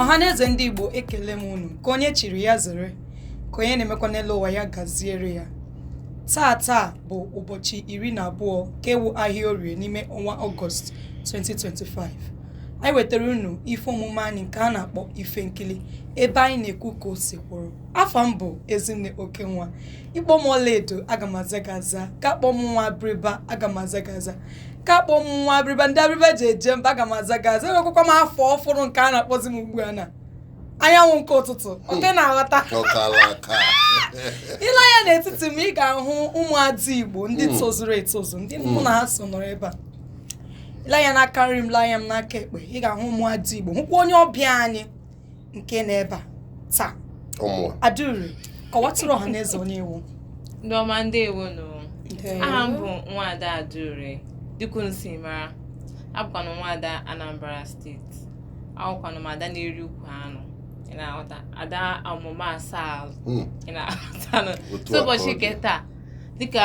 ọhaneze ndị igbo ekele m unu ka onye chiri ya zere ka onye na-emekwa n'elu ụwa ya gaziere ya taa taa bụ ụbọchị iri na abụọ ke wụ ahịa orie n'ime ọnwa ọgọst 2025 anyị wetara unu ife omume anyị nke a na-akpọ ife nkili ebe anyị na-ekwu ka o si kwụrụ afa m bụ ezinne oke nwa ị kpọọ m ọlaedo aga m aza gị aza ka akpọ m nwa abịrịba aga m aza gị aza ka akpọ m nwa abịrịba ndị abịrịba ji eje mba aga m aza gị aza enwekwakwa m afa ọfụrụ nke a na-akpọzi m ugbu a na anyanwụ nke ụtụtụ ọkwa ị na-aghọta ọkala aka i lee anya n'etiti m ị ga-ahụ ụmụada igbo ndị tozuru etozu ndị mụ na ha so nọrọ ebe a i lee anya n'aka nri m lee anya m n'aka ekpe ị ga-ahụ ụmụada igbo hụkwa onye ọbịa anyị nke nọ ebe a taa ọmụwa adure kọwatụrụ ọha na eze onye ị wụ ndị ọma ndewo nụ aha m bụ nwaada adure dị ka unu si mara abụkwanụ m nwaada anambra steeti awụkwanụ m ada na-eri ukwu anụ ị na-aghọta ada ọmụma asaa Hmm, ị na-aghọtanụ otu a ka ọ dị n'ụbọchị nke taa dịka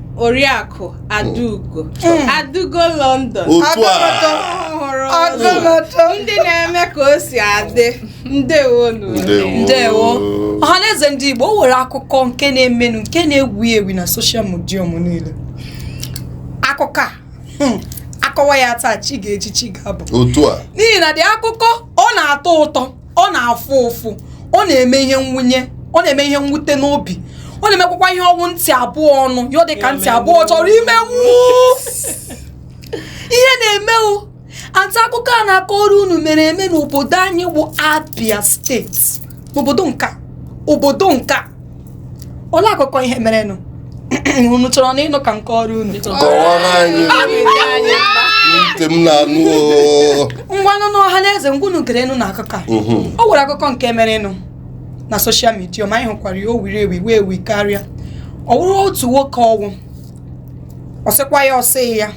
oriakụ adaugo hmm. adaugo london ndị na-eme ka o si adị ndewonu ndewo ọhaneze ndị igbo o nwere akụkọ nke na-emenụ nke na-ewu ewu na soshal midia m niile akụkọ a hmm, a kọwa ya taa chi ga-eji chi ga-abọ n'ihi na ụdị akụkọ ọ na-atọ ụtọ ọ na-afụ ụfụ ọ na-eme ihe nwunye ọ na-eme ihe mwute n'obi ọ na-emekwakwa ihe ọ wụ ntị abụọ nụ ya ọ dị ka ntị abụọ ọ chọrọ ime wuu ihe na-eme o ata akụkọ a na-akọrọ unu mere eme n'obodo anyị wụ Abia steeti n'obodo nka obodo nka olee akụkọ ihe merenụ unu chọrọnụ ịnụ ka m kọọrọ unu kọwara anyị ntị m na-anụ oo. ngwa nụnụ ọha na eze ngwanụ gerenụ na akụkọ a Mhm. o nwere akụkọ nke merenụ na soshal midia ma anyị hụkwara ya o wiri ewi wee wi karịa ọ wụrụ otu nwoke ọ wụ ọ sịkwa ya ọ sị ya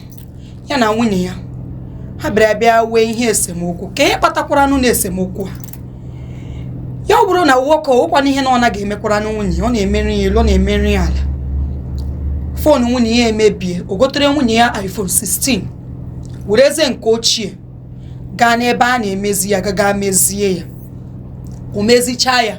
ya na nwunye ya ha bịara bịa nwee ihe esemokwu kee ihe kpatakwaranụ na esemokwu ha ya ọ bụrụ na nwoke o nwekwanụ ihe na ọ naghị emekwaranụ nwunye ya ọ na-emere ya elu ọ na-emere ya ala fon nwunye ya emebie o gotere nwunye ya iPhone 16 werezie nke ochie gaa n'ebe a na-emezi ya gaga mezie ya o mezichaa ya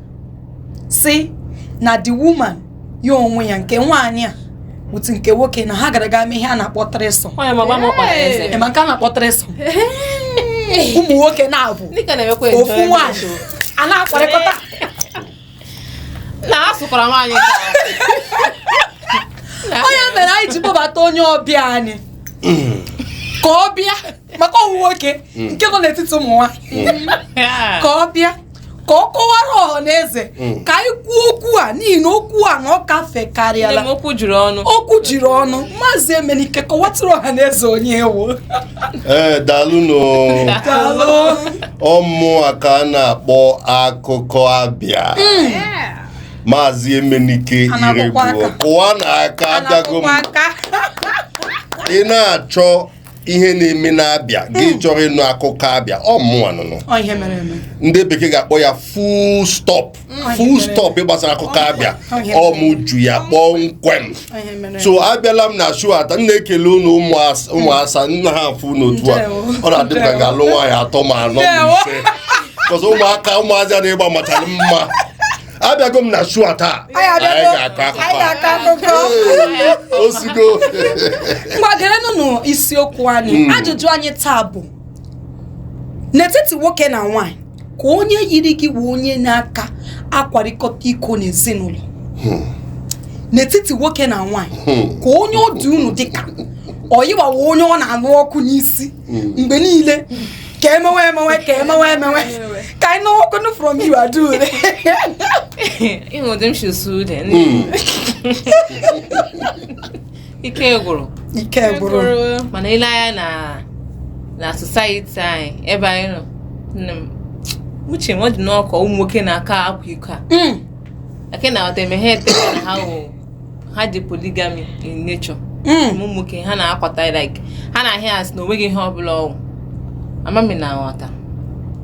si na the woman ya onwe ya nke nwaanyị a otu nke nwoke na ha gara ga mee ihe a na-akpọ threesome onye mama m kpara eze ị ma nke a na-akpọ threesome ụmụ nwoke na-abụ ndị ka na-emekwa ofu enjoyment. nwaanyị a na-akwarịkọta na ha sụkwara nwaanyị nke ahụ. ọ ya mere anyị ji kpọbata onye ọbịa anyị ka ọ bịa maka ọ wụ nwoke hmm. nke nọ n'etiti ụmụ nwaanyị hmm. ka ọ bịa ka ọ kọwara ọha na eze hmm. ka anyị kwuo okwu a n'ihi na okwu a na ọ kafekarịala okwu jiri ọnụ okwu jiri ọnụ maazị emenike kọwatụrụ ọha na eze onye ị wụ ee eh, daalụ ọ mụwa ka a na-akpọ akụkọ abịa maazị emenike iroegbu kụwanụ aka abịago m ị na-achọ ihe na-eme n'abịa gị hmm. chọrọ ịnụ akụkọ abịa ọ mụnwa nụnụ ndị bekee ga-akpọ ya full stop hmm. full stop gbasara akụkọ abịa ọ mụ ji ya kpọmkwem so abịala m na show taa m na-ekele unu ụmụ asa hmm. m na-afụ unu otu a ọ na-adị m ka ga-alụ nwaanyị atọ ma anọ ma ise cause ụmụaka ụmụazị a na-ịgba machara mma abịago m na show a taa Anyị abịago. Anyị ga-akọ akụkọ Anyị ga-akọ akụkọ. a. osigo ngwa gerenụ isiokwu anyị ajụjụ anyị taa bụ n'etiti nwoke na nwaanyị ka onye yiri gị bụ onye na-aka akwarịkọta iko n'ezinụlọ n'etiti nwoke na nwaanyị ka onye ọ dị unu dịka ọ yanwa wụ onye ọ na-anụ ọkụ n'isi mgbe niile ka emewe emewe ka emewe emewe ka anyị nụwakwanụ from you adure ị hụ ụdị m si suo ude hmm. ike gwụrụ ike gwụrụ mana i lee anya na na society anyị ebe anyị nọ uche m ọ dị m ka ọ ụmụ nwoke na-aka akwa iko a hmm. ake na-aghọta emeghe ete na ha wụ ha dị polygamy in nature hmm. ụmụ nwoke ha na-akwata like ha na-ahụ ya a sị na o nweghị ihe ọbụla ọ wụ ama m ị na-aghọta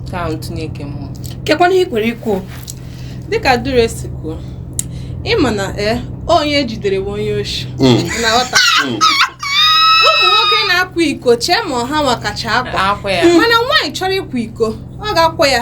nke ahụ ntụnye nke mụ o kekwanụ ihe i nwere ikwu dịka adure si kwuo ị ma na e onye e jidere bụ onye oshi hmm. ị na-aghọta hmm. ụmụ nwoke na-akwa iko chee ma ọ hanwa kacha akwa mana nwaanyị chọrọ ịkwa iko ọ ga-akwa ya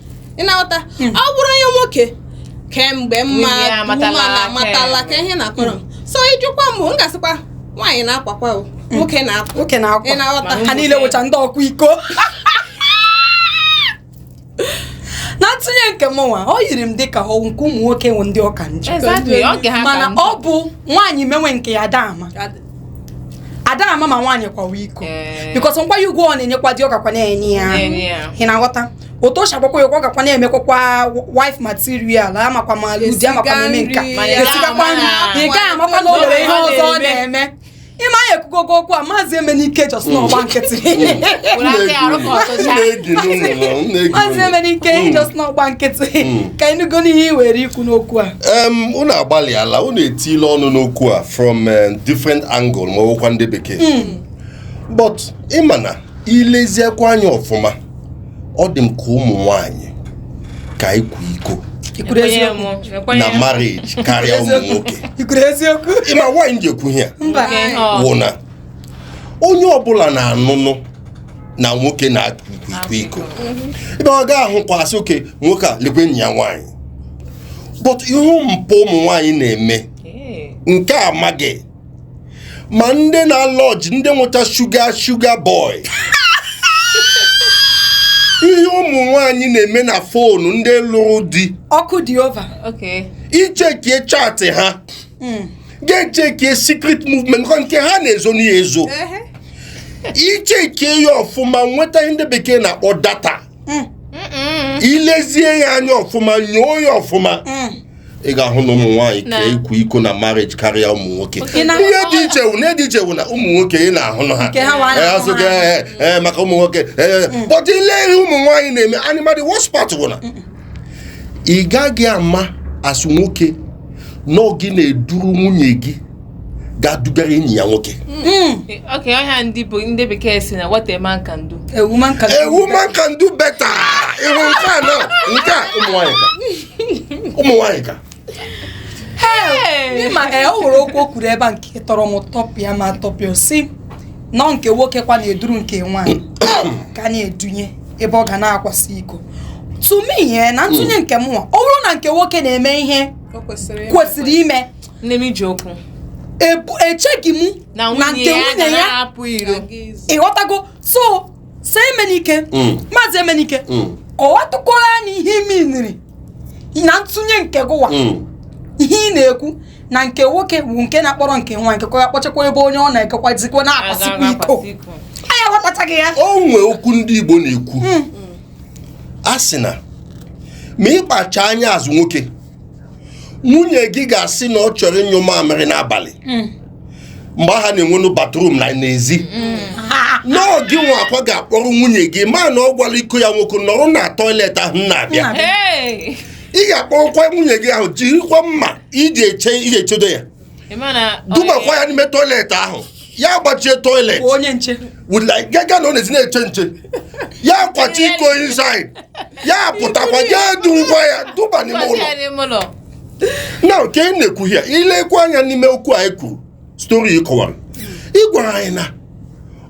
ị na-aghọta hmm. ọ bụrụ onye nwoke kemgbe mma amatala ka ihe na-akọrọ hmm. so ị jụkwa m m ga-asịkwa nwaanyị na-akwakwa hmm. nwoke na-akwa nwoke na-akwa ị na-aghọta ha niile wụcha ndị ọkwa iko na ntụnye nke m nwa ọ yiri m dịka ọ wụ nke ụmụ nwoke wụ ndị ọ ka njọ mana ọ bụ nwaanyị mewe nke ya ada ama ada ama ma nwaanyị kwawa iko eh. because nkwanye ugwu ọ na-enyekwa di ọ kakwa na-enye ya ị na-aghọta otu o si agbakwa ya ụgwọ gakwa na-emekwakwa wife material amakwa ma ụdị amakwa Esiga na-eme nka nri, Mana ya esigakwa nri ama. ị gaghị amakwa na o nwere ihe ọzọ ọ na-eme ịma ya ekwugogo okwu a maazị emenike jos na ọgba nkịtị Were aka ya arụ ka ọ tụcha. maazị emenike jos na ọgba nkịtị ka ịnụgo ihe ị nwere ikwu n'okwu a em unu agbalịala unu etila ọnụ n'okwu a from em, different angle ma ọ wụkwa ndị bekee but ị ma na i leziekwa anya ọfụma ọ dị m ka ụmụ nwanyị ka akwa iko i kwuru Ekwenye eziokwu m, ekwenye na m. marriage karịa ụmụ nwoke i kwuru eziokwu ị ma nwaanyị ji ekwu ihe a mba Nke ihe ọ- wụ na onye ọbụla na-anụnụ na nwoke na-akwa iko ebe a ga-ahụkwa sị oke nwoke a lekwe enyi ya nwaanyị but ị hụ mpụ ụmụ nwaanyị na-eme Ee. nke a amaghị ma ndị na lọji ndị nwecha shuga shuga bọị ihe ụmụ nwanyị na-eme na fonu ndị lụrụ di ọkụ dị over i chekie chaatị ha hmm. gaa chekie secret movement nke ha na-ezo n'ihe ezo i chekie ya ọfụma nweta ihe ndị bekee na-akpọ data eh. i lezie ya anya ọfụma nyoo ya ọfụma eh. ị ga-ahụ na ụmụ nwaanyị ka akwa iko na marriage karịa ụmụ nwoke ihe dị iche wụ na dị iche wụ na ụmụ nwoke ị na-ahụ na ha asụga eh, eh, maka ụmụ nwoke mm. but i le ihe ụmụ nwaanyị na-eme anyị ma the worst part wụ na ị gaghị ama as nwoke na ọ gị na-eduru nwunye gị gaa dugara enyi ya nwoke hmm. okay ọ ihe a ndị bụ ndị bekee sị na what a man can do a woman can do a woman can do better ị hụ nke a na nke a ụmụ nwanyị ka ụmụ nwanyị ka ị ma ee ọ nwere okwu o kwuru ebe a nke tọrọ m tọpịa ma tọpịa sị na nke nwoke kwa na-eduru nke nwaanyị ka na-edunye ebe ọ ga na-akwasị iko to me na ntụnye nke mụnwa ọ bụrụ na nke nwoke na-eme ihe kwesịrị ime nne m i ji okwu Ebu- echeghị m na na nwunye nke ya nwunye gara ya hapụ iro ị ghọtago so sir emenike Mm. maazị emenike Mm. kọwatụkwara anyị ihe i miniri na ntụnye nke gụwa Mm. ihe ị na-ekwu na nke nwoke bụ nke na-akpọrọ nke nwa nke kwa kpọchakwa ebe onye ọ na-ekekwazikwa na-akwasikwa iko anyị aghọtachaghị ya o nwee okwu ndị igbo na-ekwu a sị na ma ị kpacha anya as nwoke nwunye gị ga-asị na ọ chọrọ ịnyụ mamịrị n'abalị mm. mgbe ahụ a na-enwenụ bathroom na n'ezi mm. na ọ gịnwakwa ga-akpọrọ nwunye gị mana ọ gwala iko ya nwoke nọrọ na toilet ahụ na-abịa ị ga-akpọrọkwa nwunye gị ahụ jirikwa mma i ji echedo ya dubakwa ya n'ime toilet ahụ ya gbachie toilet onye nche gaga nọzie na-eche nche ya kwachaa iko inside ya pụtakwa e durukwa ya duba n'ime ụlọ na nke ị na-ekwu ya i lekwa anya n'ime okwu anyị kwuru stori ị kọwara ị gwara anyị na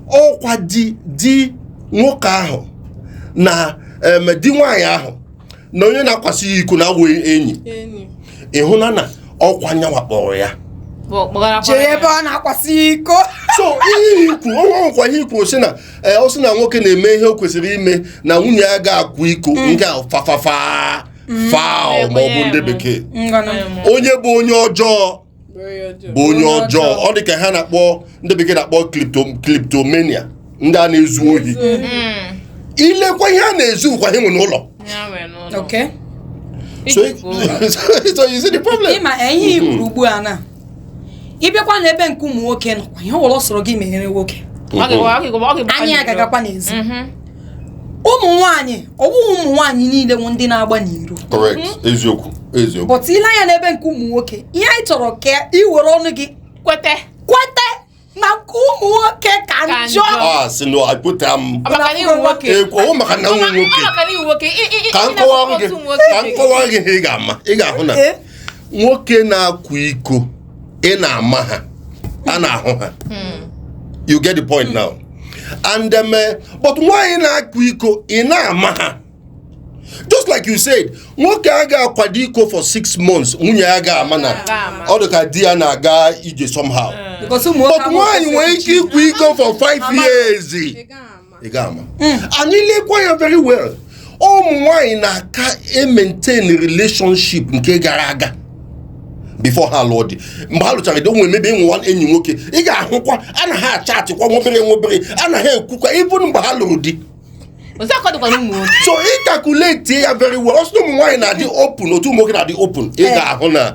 ọkwa di di nwoke ahụ na di nwaanyị ahụ na onye na-akwasị ya iko na-awụ enyi enyi ịhụ na na ọkwa nyanwa kpọrọ ya bụ kpọgara jee ebe ọ na-akwasị ya iko so ihe i kwuru ọkwa ihe i kwuru sị na ee ọ sị na nwoke na-eme ihe o kwesịrị ime na nwunye ya agaghị akwa iko nke a fafafa foul ma ọ bụ ndị bekee ngwanụ onye bụ onye ọjọọ bụ onye ọjọọ ọ dị ka ihe a na-akpọ ndị bekee na-akpọ kleptomania ndị a na-ezu ohi mm. i lekwa ihe ha na-ezukwa ha nwe n'ụlọ so you see the problem ịma eh, ihe i kwuru mm-hmm. ugbu a na ị bịakwa n'ebe nke ụmụ nwoke nọkwa ihe ọ wụla ọ sọrọ gị meere nwoke mm-hmm. anya ya ga-agakwa n'ezi mm-hmm. ụmụ nwaanyị ọ wụghị ụmụ nwaanyị niile wụ ndị na-agba n'iro correct mhm. eziokwu eziokwu but i lee anya n'ebe nke ụmụ nwoke ihe anyị chọrọ ka ị were ọnụ gị kwete kwete na nke ụmụ nwoke ka njọ ah, si na akpụta m ekwo eh, maka na nwa nwoke ka m kọwaara gị ka m kọwaara gị ị ga-ama ị ga-ahụ na eh? nwoke na-akwa iko ị na-ama ha a na-ahụ ha hmm. you get the point now and um, eh, but nwaanyị na-akwa iko ị naghị ama ha just like you said nwoke a ga-akwado iko for six months nwunye ya ga-ama na ọ dị ka di ya na-aga ije somehow hmm. but nwaanyị nwere ike ịkwa iko for five years ị gaghị ama hmm. and i lekwa ya very well ụmụ nwanyị na-aka emaintain relationship nke gara aga before ha lụọ di mgbe ha lụchara di onwe mebe ịnwụwa enyi nwoke ị ga-ahụkwa ha na ha achatịkwa nwobere nwobere ha na ha ekwukwa even mgbe ha lụrụ di so ị calculate ya very well so ụmụ nwaanyị anaghị adị open otu ụmụ nwoke na-adị open ị eh. ga-ahụ na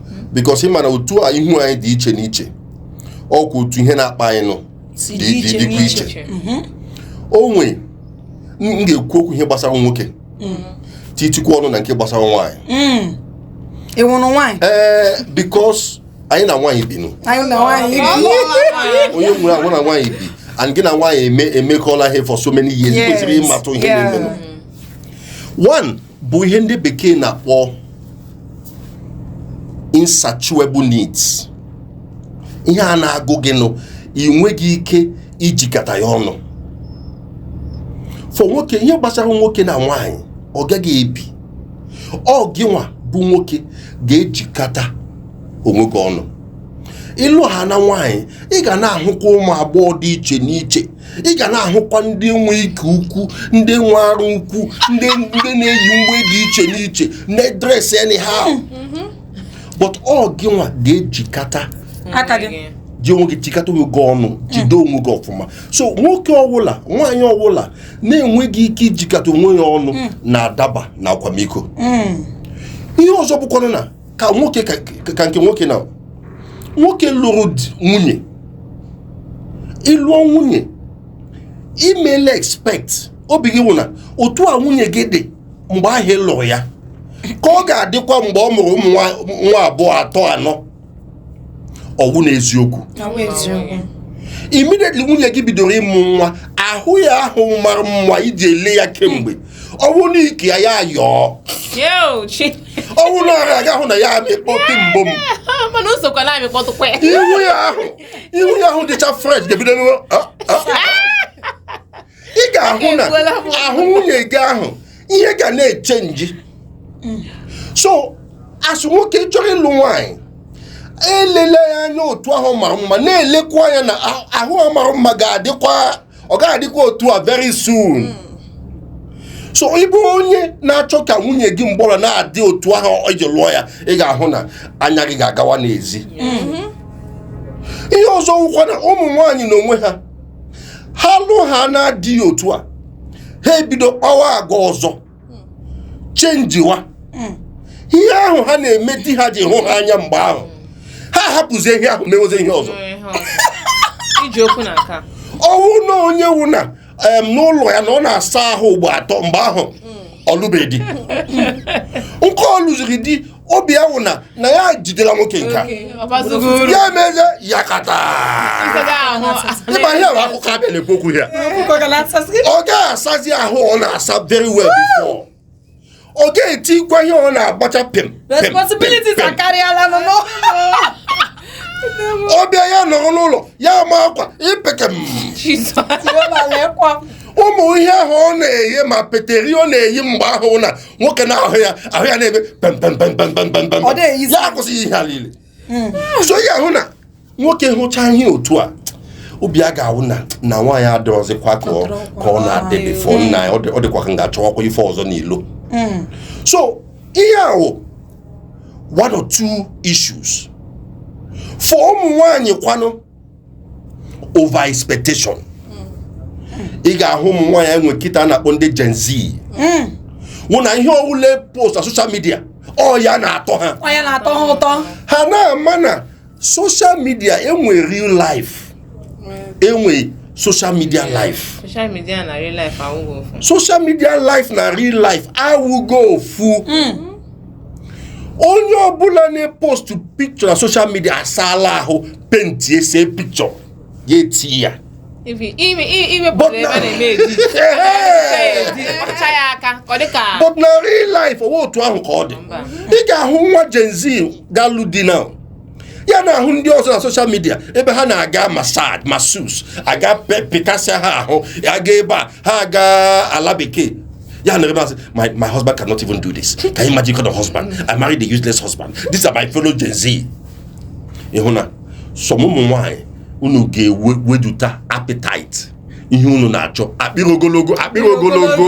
because ị ma na otu ihu anyị dị iche n'iche ọkwa otu ihe na-akpa anyị nụ dịkwa iche mhm. ọ wụ m ga-ekwu okwu ihe gbasara nwoke mm. titikwa ọnụ na nke gbasara nwaanyị mm. ị wụrụ nwaanyị ee eh, because anyị na nwaanyị bi nụ onye nwere anwụ na nwaanyị bi and gị na nwaanyị emekọla ihe for so many years kwesịrị ịmatụ ihe na-emenụ one bụ ihe ndị bekee na-akpọ insatiable needs ihe a na-agụ gị nụ ị nweghị ike ijikata ya ọnụ for nke ihe gbasara nwoke na nwaanyị ọ gaghị ebi ọ gị nwa bụ nwoke ga-ejikata onwe gị ọnụ ị lụhana nwaanyị ị ga na-ahụkwa ụmụ agbọghọ dị iche n'iche ị ga na-ahụkwa ndị nwe ike ukwu ndị nwe ara ukwu ndị ndị na-eyi uwe dị iche n'iche na-edress anyhow but ọ gị nwa ga-ejikata aka gị ji onwe gị chịkata onwe gị ọnụ jide onwe gị ọfụma so nwoke ọwụla nwaanyị ọwụla na-enweghị ike ijikata onwe ya ọnụ na-adaba na akwamiko ihe ọzọ bụkwanụ na ka nwoke ka nke nwoke na nwoke lụrụ nwunye ị lụọ nwunye imele expect obi gị wụ na otu a nwunye gị dị mgbe ahụ ị lụrụ ya ka ọ ga-adịkwa mgbe ọ mụrụ ụmụ nwa abụọ atọ anọ ọ wụ n'eziokwu immediately nwunye gị bidoro ịmụ nwa ahụ ya ahụ mara mma i ji ele ya kemgbe ọ wụ na ike ya ya yọọ ọ wụ na ara ị ga-ahụ na ya amịkpọ mbụ m mana o sokwa na-amịkpọtụkwa ya ihu ya ahụ ihu ya ahụ dịcha fresh ga-ebido n'ụlọ ah, ah. ị ga-ahụ na ahụ nwunye gị ahụ ihe ga na-echenji so a sị nwoke chọrọ ịlụ nwaanyị elela ya anya otu ahụ ọ mara mma na-elekwa anya na ahụ mara mma ga-adịkwa ọ gaghị adịkwa otu a very soon hmm. so ị bụ onye na-achọ ka nwunye gị mgbe ọwụla na-adị otu ahụ i ji lụọ ya ị ga-ahụ na anya gị ga-agawa n'ezi mm-hmm. ihe ọzọ wụkwa na ụmụ nwaanyị na onwe ha ha lụhana di otu a ha ebido kpawa agwa ọzọ chenjiwa ihe ahụ ha na-eme di ha ji hụ ha anya mgbe ahụ ha hapụzie ihe ahụ mewezie ihe ọzọ iji okwu na nka ọ wụ na onye wụ na em, n'ụlọ ya na ọ na-asa ahụ ugbo atọ mgbe ahụ ọ lụbeghị di nke ọ lụziri di obi ya wụ na na ya jidela nwoke nke a ya emezie ya kata ịma ihe bụ akụkọ abịa na-ekwu okwu ya ọ gaghị asazi ahụ ọ na-asa very well before ọ gaghị etikwa ihe ọ na-agbacha pim ọ bịa ya nọrọ n'ụlọ ya ma akwa ipeke ụmụ ihe ahụ ọ na-eyi ma peteri ọ na-eyi mgbe ahụ na nwoke na-ahụ ya ahụ ya na-eme pempempempempempempem Ọ dịghị easy. ya akwụsịghị ihe a niile so ị ga-ahụ na nwoke hụcha ihe otu a obi ya ga-awụ na na nwaanyị adịrọzịkwa ka ọ ka ọ na-adị before nna ya ọ dị- ọ dịkwa ka m ga-achọwakwa ife ọzọ n'ilo so ihe a wụ one or two issues for ụmụ nwaanyị kwanụ over expectation ị ga-ahụ ụmụ nwaanyị anyị nwe kịta a na-akpọ ndị Gen Z wụ na ihe ọwụla e post na social media ọ ya na-atọ ha Ọ ya na-atọ ha ụtọ. ha na-ama na social media e nwe real life e nwe social media life social media na real life awụghị ofu social media life na real life awụghị ofu onye ọbụla na-epostụ picture na social media asaala ahụ penti ese picture ya eti ya but na real life ọ wụghị otu ahụ ka ọ dị ị ga-ahụ nwa Gen Z ga-alụ di na ya na-ahụ ndị ọzọ na social media ebe ha na-aga massage masseuse aga pịkasịa ha ahụ aga ebe a ha aga ala bekee ya na ebe asị my my husband cannot even do this can you imagine kind of husband i married a useless husband these are my fellow gen z ị hụ na some ụmụ nwaanyị unu ga-eweduta appetite ihe unu na-achọ akpịrị ogologo akpịrị ogologo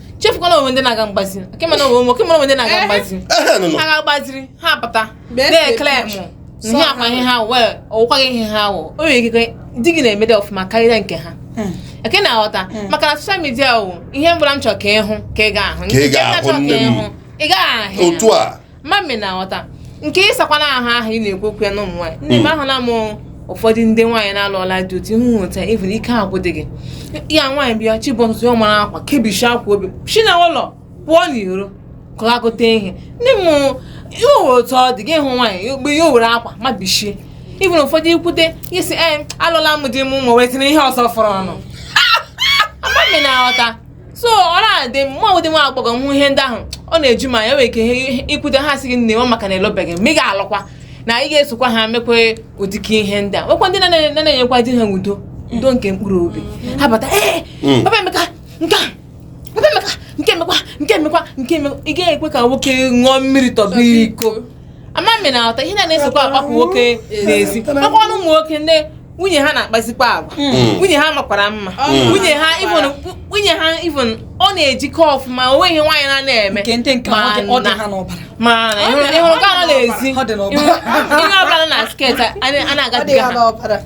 chefukwana o nwe ndị na-aga mgbazi kemana o nwe ụmụ kemana o nwe ndị na-aga mgbazi Ehe, nụ, nụ. ha ga-agbaziri ha apụta Best na-ekele approach. mụ So ihe akwa ha- ihe ha wee ọwụkwaghị ihe ha wụ o nwere ikike di gị na-emede ọfụma karịa nke ha eke na-aghọta maka na social media wụ ihe ọbụla m chọrọ ka ịhụ ka ị ga-ahụ Ka ị Nke m ga-ahụ na-achọ nne m. ịhụ, ị gaghị ahụ ya. otu a ma m ị na-aghọta nke ịsakwana ahụ ahụ ị na-ekwu okwu ya na ụmụ nwaanyị nne m ahụ na mụ ụfọdụ ndị nwaanyị na-alụọla di otu ihu nweta even ike agwụ dị gị ya nwaanyị bịa chi bọọ ụtụtụ ọ mara akwa kebishi akwa obi si na ụlọ pụọ n'iro kọlagote ihe ndị m ihe owere otu ọ dị gị hụ nwaanyị mgbe ihe owere akwa mabishie even ụfọdụ ikwute gị si ee alụla m di m ụmụ wee tinye ihe ọzọ fọrọ ọnụ ama m ị na-aghọta so ọ na-adị mma ụdị nwa agbọghọ m ihe ndị ahụ ọ na-eju m anya nwere ike ihe ikwute ha sị gị nne nwa maka na ị lụbeghị ị ga-alụkwa na ị ga-esokwa ha mekwe ụdịka ihe ndị a nwekwa ndị na- na- na-enyekwa di ha udo udo nke mkpụrụ obi ha bata ee Mm. papa emeka nke a papa emeka nke emekwa nke emekwa nke emekwa ị gaghị ekwe ka nwoke ṅụọ mmiri tọba iko ama m ị na-aghọta ihe na na-esokwa agbapụ nwoke n'ezi makwa o nwe ụmụ nwoke ndị nwunye ha na-akpazikwa agwa hmm. nwunye ha makwara mma hmm. nwunye ha even nwunye ha even ọ na-ejike ọfụma o nweghị ihe nwaanyị na na-eme ma na ị hụrụ ha n'ezi ihe ọbụla na skirt a na-agadiga ha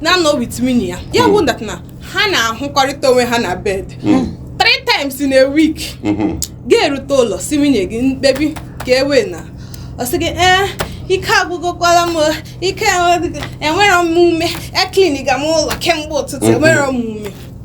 na-anọ with nwunye ya ya wụ that hmm. na ha na-ahụkọrịta onwe ha na bed hmm. three times in a week hmm. ga-erute ụlọ sị nwunye gị mkpebi ka e wee na ọ sị gị ee eh, ike agwụgokwala m ike enwere m ume ekliniga m ụlọ kemgbe ụtụtụ enwere m ume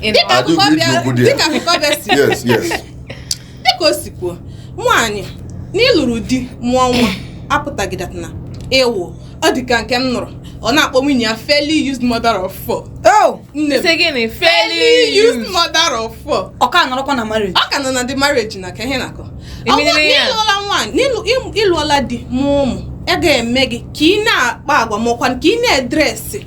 dịka akụkọ bịa si dịka o si kwuo nwaanyị na ị lụrụ di mụọ nwa apụtaghị that na ị wụ ọ dị ka nke m nụrụ ọ na-akpọ nwunye ya fairly used mother of four. Oh! nne m gịnị fairly used mother of four. ọ ka nọrọkwa na marriage. ọ ka nọ na the marriage na ka ihe na-akọ. ị lụọla nwaanyị ị lụọla di mụọ ụmụ a ga-eme gị ka ị na-akpa agwa makwa ka ị na-edresị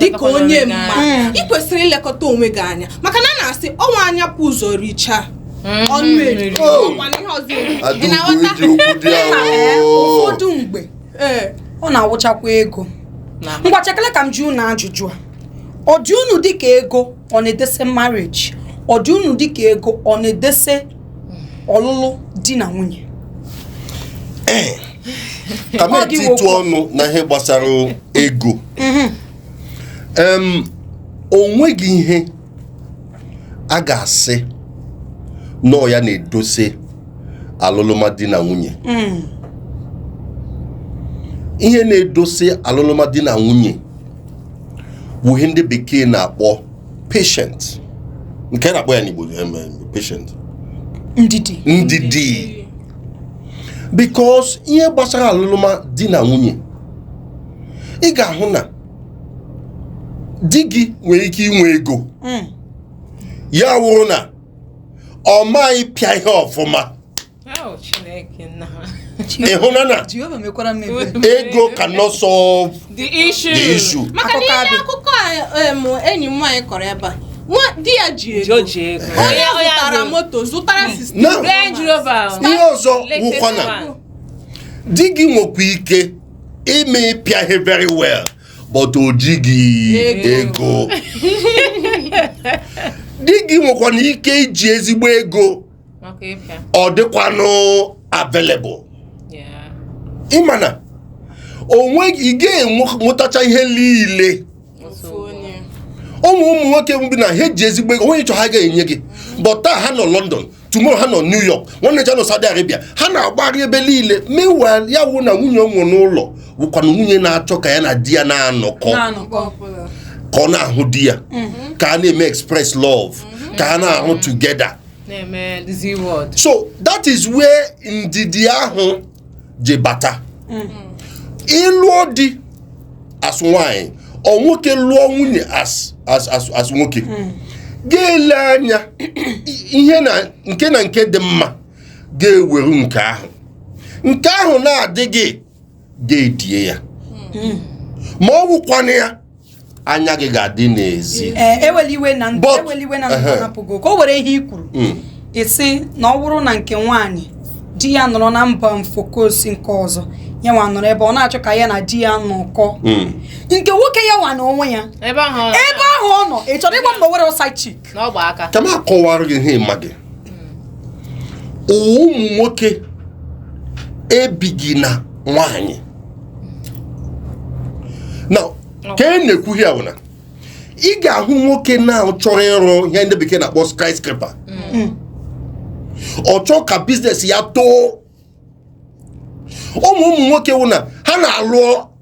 dịka onye mma mm. ị kwesịrị ilekọta onwe gị anya maka na a na-asị ọ wụ anya bu ụzọ richa mm-hmm. ọnụ eri ụfọdụ mgbe eh. ọ na-awụchakwa ego ngwa chekele ka m jụọ unu ajụjụ a ọ dị unu dịka ego ọ na-edese marriage ọ dị unu dịka ego ọ na-edese ọlụlụ di na nwunye ka m Ọ dị etitụ okwu. ọnụ na ihe gbasara ego Em, o nweghị ihe a ga-asị na ọ ya na-edose alụlụma di na nwunye ihe na-edose alụlụma di na nwunye wụ ihe ndị bekee na-akpọ patience nke a na-akpọ ya n'Igbo em, em, patience ndidi ndidi because ihe gbasara alụlụma di na nwunye ị ga-ahụ na di gị nwere ike inwe ego ya wụrụ na ọ maghị ịpịa ihe ọfụma ị hụna na ego cannot solve the issue maka na ihe akụkọ enyi m nwaanyị kọrọ ebe a di ya ji ego onye zụtara moto zụtara system ihe ọzọ wụkwa na di gị nwekwa ike ịma ịpịa ihe very well but o jighị ego di gị nwekwana ike iji ezigbo ego ọ dịkwanụ available ị ma na o nwe ị ga-enwetacha ihe niile o nwe ụmụ nwoke bụ na ha eji ezigbo ego o nwee ihe ị chọ ha ga-enye gị but taa ha nọ London tomorrow ha nọ New York nwanne echi ha nọ Saudi Arabia ha na-agbagharị ebe niile meanwhile ya wụ na nwunye o nwe n'ụlọ wụkwanụ nwunye na-achọ ka ya na di ya na-anọkọ ka ọ na-ahụ di ya mm-hmm. ka a na-eme express love mm-hmm. ka a na-ahụ together so that is where ndidi ahụ ji bata ị lụọ di as nwanyị or nwoke lụọ nwunye as as as as nwoke hmm. ga-ele anya ihe na nke na nke dị mma ga-eweru nke ahụ nke ahụ na-adịghị ga-edie ya hmm. ma ọ wụkwana ya anya gị ga-adị n'ezi eh, ewela iwe na ndụ ewela iwe na ndụ hapụgo ka o were ihe i kwuru hmm. i si na ọ bụrụ na nke nwaanyị di ya nọrọ na mba ofesi nke ọzọ ya nwa nọrọ ebe ọ na-achọ ka ya na di ya nọkọ hmm. nke nwoke ya nwa na onwe ya ebe ahụ ọ nọ ị chọrọ ịgwa m na o nwere side chick na ọ gba aka ka m akọwara gị ihe ị maghị ụwa ụmụ nwoke ebighị na nwanyị na ka e na-ekwu ya bụ na ị ga-ahụ nwoke na ọ chọrọ ịrụ ihe ndị bekee na-akpọ skyscraper mm. ọ chọọ ka business ya too ụmụ ụmụ nwoke wụ na ha na-alụ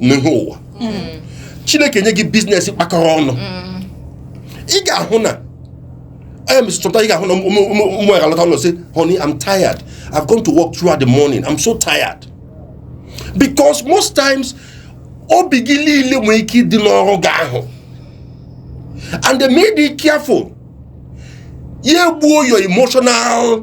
n'ihu ụwa hmm. chineke nye gị business kpakọrọ ọnụ hmm. ị ga-ahụ na onye mesị chọpụta ị ga-ahụ na ụmụ ya alọta ụlọ sị honey i'm tired i've gone to work throughout the morning i'm so tired because most times obi gị niile nwere ike ịdị n'ọrụ gị ahụ and emedịghị careful ya egbuo your emotional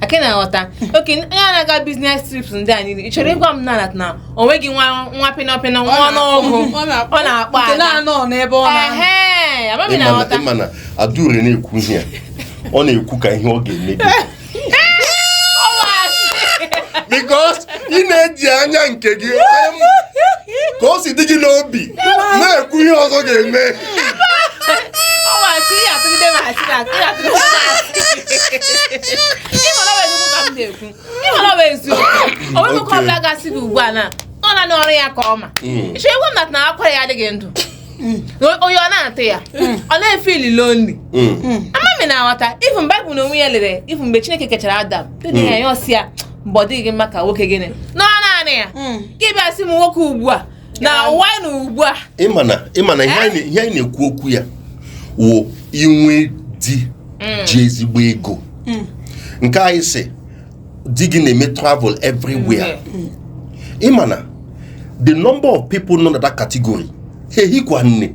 aka na-aghọta okay onye a na-aga business trips ndị a niile ị chọrọ ịgwa m na na o nweghị nwa nwa pịnọpịnọ nwa ọnụọgụ ọ na-akpọ nke na-anọ n'ebe ọ na-anọ Ehe, amaghị ma ị na-aghọta ị ma na Adure na-ekwu ihe a ọ na-ekwu ka ihe ọ ga-eme gị because ị na-eji anya nke gị ka o si dị gị n'obi na-ekwu ihe ọzọ ga-eme oyi ọ na-atụ ya hmm. ọ na-efeel lonely hmm. hmm. ama m ị na-aghọta even Bible na onwe ya lere even mgbe Chineke kechara Adam dị ya ya ọ sị ya mba ọ dịghị mma ka nwoke gịnị nọ naanị ya gị bịa sị m nwoke ugbu a na nwa na ugbu a ị ma na ị ma na ihe anyị na- ihe anyị na-ekwu okwu ya wụ inwe di ji ezigbo ego nke anyị sị di gị na-eme travel everywhere ị ma na the number of people nọ na that category ha ehikwa nne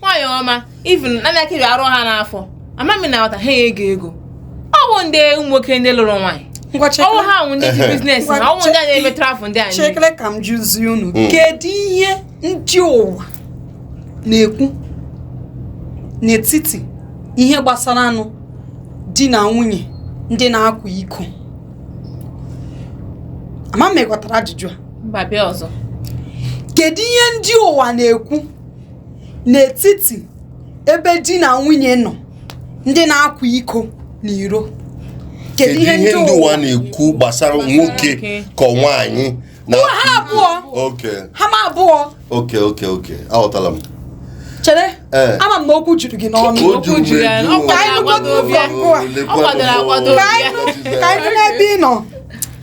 nwaanyị ọma even naanị akịrị arụ ha n'afọ ama m na ọta ha ego ego ọ bụ ndị ụmụ nwoke ndị lụrụ nwaanyị ngwanụ chekere ha wụ ndị ji Ehe. biznes na ọ wụ ndị a na-eme travụl ndị anyị chekere ka m jụzie unu Mm. kedu ihe ndị ụwa na-ekwu n'etiti ihe gbasaranụ di na nwunye ndị na-akwa iko ama m ị ghọtara ajụjụ a mba bịa ọzọ kedu ihe ndị ụwa na-ekwu n'etiti ebe di na nwunye nọ ndị na-akwa iko n'iro kedu ihe ndị ụwa na-ekwu gbasara nwoke ka ọ nwaanyị na ha abụọ ha ma abụọ okay okay okay aghọtala m chere eh. ama m na okwu juru gị n'ọnụ ka anyị n'ebe ị nọ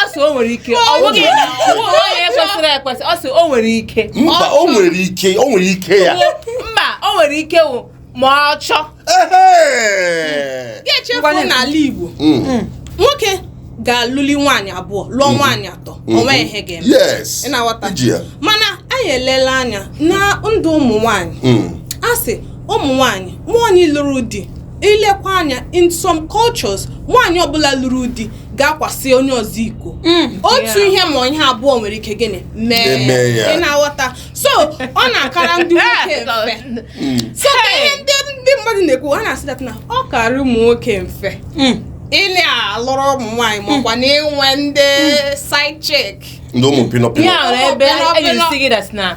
ọsọ o nwere ike ọ bụghị na ọ bụghị onye kwesịrị ekwesị ọsọ o nwere ike mba o nwere ike o nwere ike ya mba o nwere ike wụ ma achọghị ichefu n'ala Igbo mm. Mm. nwoke ga-alụli nwaanyị abụọ lụọ mm. nwaanyị atọ mm-hmm. o nwe ihe ga-eme ị na-aghọta mana anyị elela anya na ndị ụmụ nwaanyị mm. a sị ụmụ nwaanyị nwaanyị lụrụ di ị lekwa anya in some cultures nwaanyị ọbụla lụrụ di ga-akwasị onye ọzọ iko Mm. otu Yeah. ihe ma ọ wụ ihe abụọ nwere ike gịnị mee Eme ya. ị na-aghọta so ọ na-akara ndị nwoke mfe so ka ihe ndị ndị mmadụ na-ekwu ha na-asị dat na ọ karị ụmụ nwoke mfe Mm. ị na-alụrụ ụmụ nwaanyị makwa na inwe ndị side chick ndị ụmụ pinọpinọ ya nwere ebe Ọbịa, a ọbịa. ga-asị gị dat na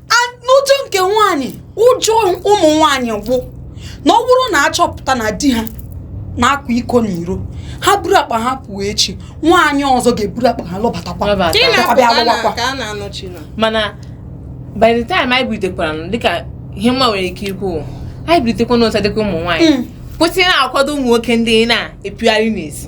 A- n'ụjọ nke nwaanyị ụjọ ụmụ nwaanyị wụ na ọ bụrụ na a chọpụta na di ha na-akwa iko n'iro ha buru akpa ha pụọ echi nwaanyị ọzọ ga-eburu akpa ha lọbatakwa Lọbata. Ị na-apụ bịa ka a na- lụwakwa. ka a na-anọchi na mana by the time anyị bilitekwaranụ, dịka ihe mma nwere ike ikwu anyị bilitekwanụ ọtọ dịka ụmụ nwaanyị Mm. kwụsị ịna-akwado ụmụ nwoke ndị na-epiogharị n'ezi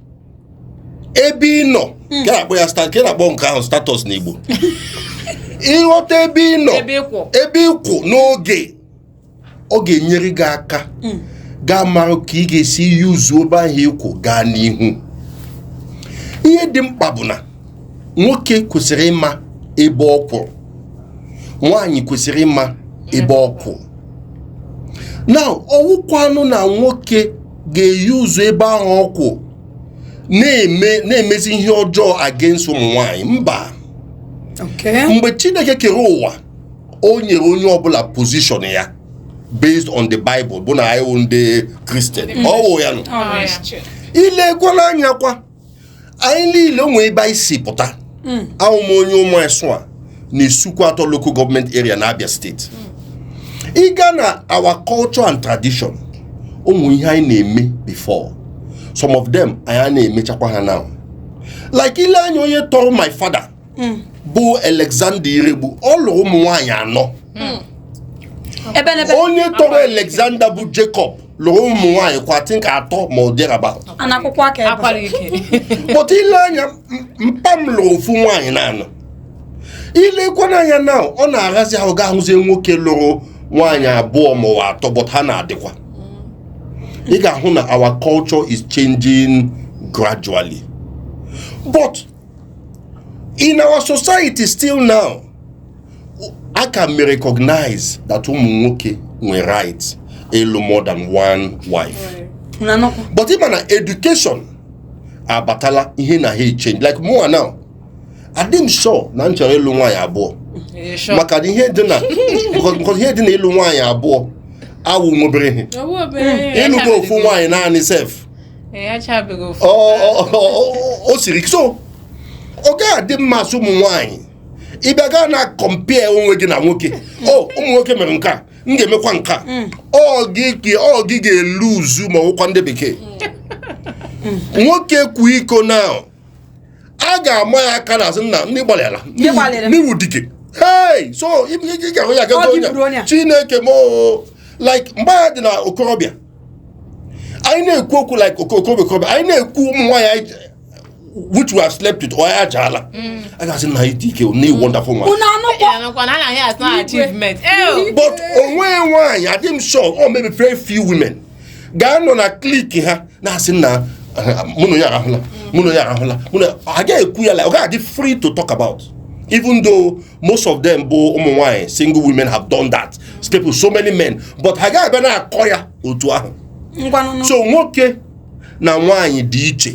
ebe ị nọ hmm. ka akpọ ya ka a na-akpọ nke ahụ status n'Igbo ị ghọta ebe ị nọ ebe ị kwụ n'oge ọ ga-enyere gị aka hmm. ga-amara ka ị ga-esi yuzuo ebe ahụ ị kwụ gaa n'ihu ihe dị mkpa bụ na nwoke kwesịrị ịma ebe ọ kwụrụ nwaanyị kwesịrị ịma ebe ọ kwụ na ọ wụkwanụ na nwoke ga-eyuzu ebe ahụ ọ kwụ na-eme na-emezi ihe ọjọọ against ụmụ nwaanyị mba mgbe chineke kere ụwa o nyere onye ọbụla pozishọn ya based on the bible bụ na anyị wụ ndị kristian ọ wụ ya nụ ị lekwanụ anya kwa anyị niile o nwe ebe anyị si pụta hmm. awụ m onye Umuasua na Isuikwuato local government area na Abia state hmm. ị gaa na our culture and tradition o nwee ihe anyị na-eme before some of them anyị anaghị emechakwa ha now like i lee anya onye tọrọ my father hmm. bụ Alexander Iregbu ọ lụrụ ụmụ nwaanyị anọ hmm. onye tọrọ Alexander bụ Jacob lụrụ ụmụ nwaanyị twenty or thereabout but i lee anya mpa m lụrụ ofu nwaanyị naanị i lekwanụ anya now ọ na-ahịazi ahụ ga ahụzie nwoke lụrụ nwaanyị abụọ ma ọ wụ atọ but ha na-adịkwa ị ga-ahụ na our culture is changing gradually but in our society still now a ka na-recognize that ụmụ nwoke nwere right ịlụ more than one wife but ị ma na education abatala ihe na-echange like mụa now adị m sure na m chọrọ ịlụ nwaanyị abụọ maka ihe dị na ihe dị na ịlụ nwaanyị abụọ awụ nwobere ihe ịlụgo ofu nwaanyị naanị sef o siri ike so ọ gaghị adị mma a sị ụmụ nwaanyị ị bịa gaa na-compare onwe gị na nwoke o ụmụ nwoke mere nke a m ga-emekwa nke a mm. ọ gị ga-elose ma ọ wụkwa ndị bekee mm. nwoke kwaa iko na a ga-ama ya aka n'azụ nna ị gbalịala Ndị gbalịrị. na ị wụ dike hey so ị ị ga-ahụ ya Ọ gago dị buru onye a. chineke m oo. like mgbe anyị dị na okorobịa anyị na-ekwu okwu like oko- okorobịa okorobịa anyị na-ekwu ụmụ nwaanyị anyị ji- which we have slept with or ya jaala a ga-asị na anyị dị ike na wonderful nwaanyị unu anụkwa Yeah, nakwa na anaghị asị na achievement. Ew. but o nwee nwaanyị adị m sure ọ maybe very few women gaa nọ na clique ha na-asị na mụ na onye a arahụla mụ na onye a arahụla mụ na a gaghị ekwu ya la ọ gaghị adị free to talk about even though most of them bụ ụmụ nwanyị single women have done that slept with so many men but ha gaghị abịa na-akọ ya otu ahụ ngwanụ so nwoke na nwaanyị dị iche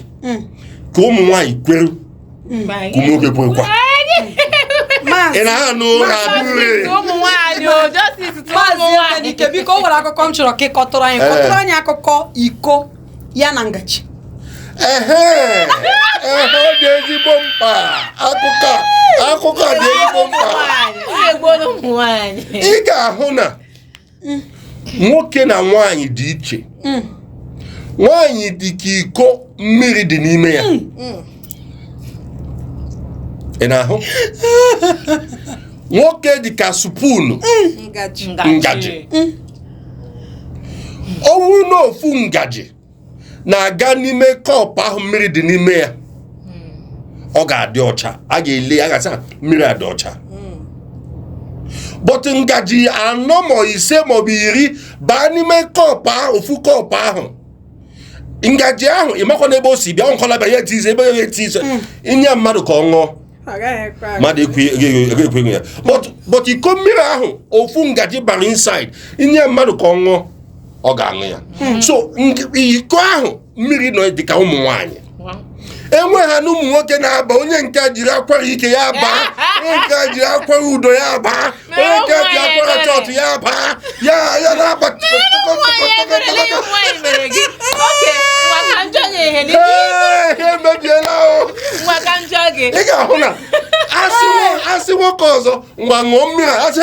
ka ụmụ nwaanyị kwere ụmụ nwoke kwekwa ị na-anụ ụra abụghị ụmụ nwaanyị o justice to ụmụ maazị nwaanyị Emenike biko o nwere akụkọ m chọrọ ka ị kọtụrụ anyị Ee. kọtụrụ anyị akụkọ iko ya na ngaji ehe ehe ọ dị ezigbo mkpa akụkọ a- akụkọ a dị ezigbo mkpa nwaanyị ọ na-egbu ụmụ nwaanyị ị ga-ahụ na mm. nwoke na nwaanyị dị iche mm. nwaanyị dị ka iko mmiri dị n'ime ya mm. ị na-ahụ nwoke dị ka spoon ngaji ọ bụrụ na ofu ngaji na-aga n'ime kọpụ ahụ mmiri dị n'ime ya ọ ga-adị ọcha a ga-ele ya ga-asị mmiri a dị ọcha but ngaji anọ ma ise maọbụ iri baa n'ime kọpụ ahụ ofu kọpụ ahụ ngaji ahụ ị makwanụ ebe o si bịa nkọla bịa ya etizi ebe ya etizi hmm. i nye mmadụ ka ọ ṅụọ mmadụ ekwe ya but iko mmiri ahụ ofu ngaji bara inside i nye mmadụ ka ọ ṅụọ ọ ga-aṅụ ya hmm. so iko ahụ mmiri nọ dị ka ụmụ nwaanyị ebe ahụ na ụmụ nwoke na-aba onye nke jiri akwara ike ya baa onye nke jiri akwara udo ya baa onye nke ji akwara chọọchị ya baa ya ya na-aba emebiela ị ga-ahụ na a sị nwoke ọzọ ngwa ṅụọ mmiri a sị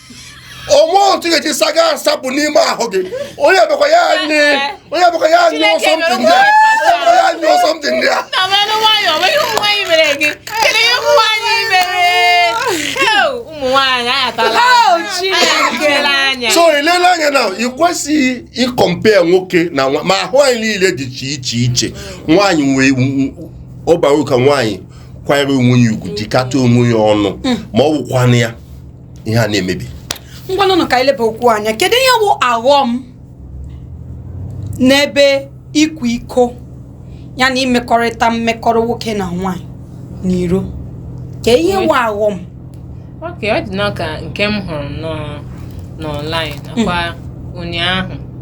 o nwe otu ị ga-eji saa ga-asapụ n'ime ahụ gị onye bụkwa ya anyị onye bụkwa ya anyị ọ something ndị a ya anyị ọ something ndị a so e lele anya na ị kwesịghị ịcompare nwoke na nwa ma ahụ anyị niile dị iche iche iche nwaanyị nwee ọ bara uru ka nwaanyị kwanyere onwe ya ugwu jikọta onwe ya ọnụ mm. ma ọ wụkwanụ ya ihe a na-emebi ngwanụ nụ ka e leba okwu anya kedu ihe bụ aghọm n'ebe ịkwa iko ya na imekọrịta mmekọrọ nwoke na nwaanyị n'iro kee ihe bụ aghọm okay ọ dịnụ ka nke m hụrụ n'ọnlaịn nakwa ụnyaahụ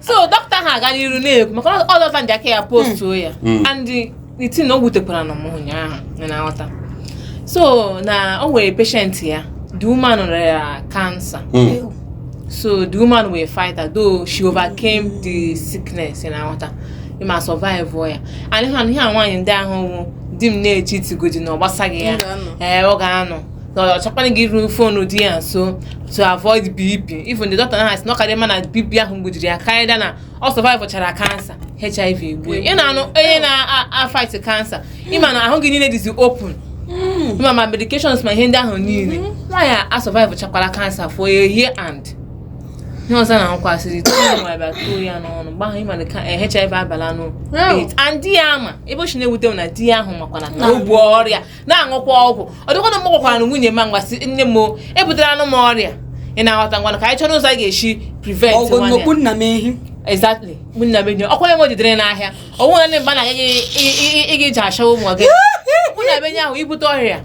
so dọkịta ahụ aga n'iru na-ekwu maka ọ doctor Njakiri postuo ya Mm. and the thing na o wutekwara nụ m ụnyaahụ ị na-aghọta so na o nwere patient ya the woman rịara cancer Mm. so the woman wụ fighter though she overcame the sickness ị na-aghọta ị ma survive ya and ihe a- ihe a nwaanyị ndị ahụ wụ di m na-echeatigodi na ọ gbasaghị ya M ga-anọ. ee ọ ga-anọ na ọ chọkwanaghị iru phone di ya nso to avoid BP even the doctor na-asị na ọ kaara ya mma na BP ahụ gbuziri ya karịa na ọ survive chara cancer HIV egbuo ị na-anụ onye na-afight cancer ị ma na ahụ gị niile dịzi open hmm. ị ma ma medications ma ihe ndị ahụ niile hmm. nwaanyị a survive chakwara cancer for a year and ihe ọzọ na nkwasịrị bịa tụo ya n'ọnụ mgbe ahụ ị mana ka eh, HIV abala nụ and di ya ama ebe o si na-ewute m na di ya ahụ makwanụ na o bu ọrịa na-aṅụkwa ọgwụ ọ dịkwa na m gwakwara nwunye m ngwa sị nne m o, ebutelanụ m ọrịa ị na-aghọta ngwanụ ka anyị chọrọ ụzọ anyị ga-esi prevent ọgwụ nwanne nnukwu nna m ehi exactly nwunye m enyi ọkwa ya nwe jidere n'ahịa ọnwụ na ndị mba na-aga gị ị ga-eji achawa ụmụ gị nwunye m enyi ahụ ibute ọrịa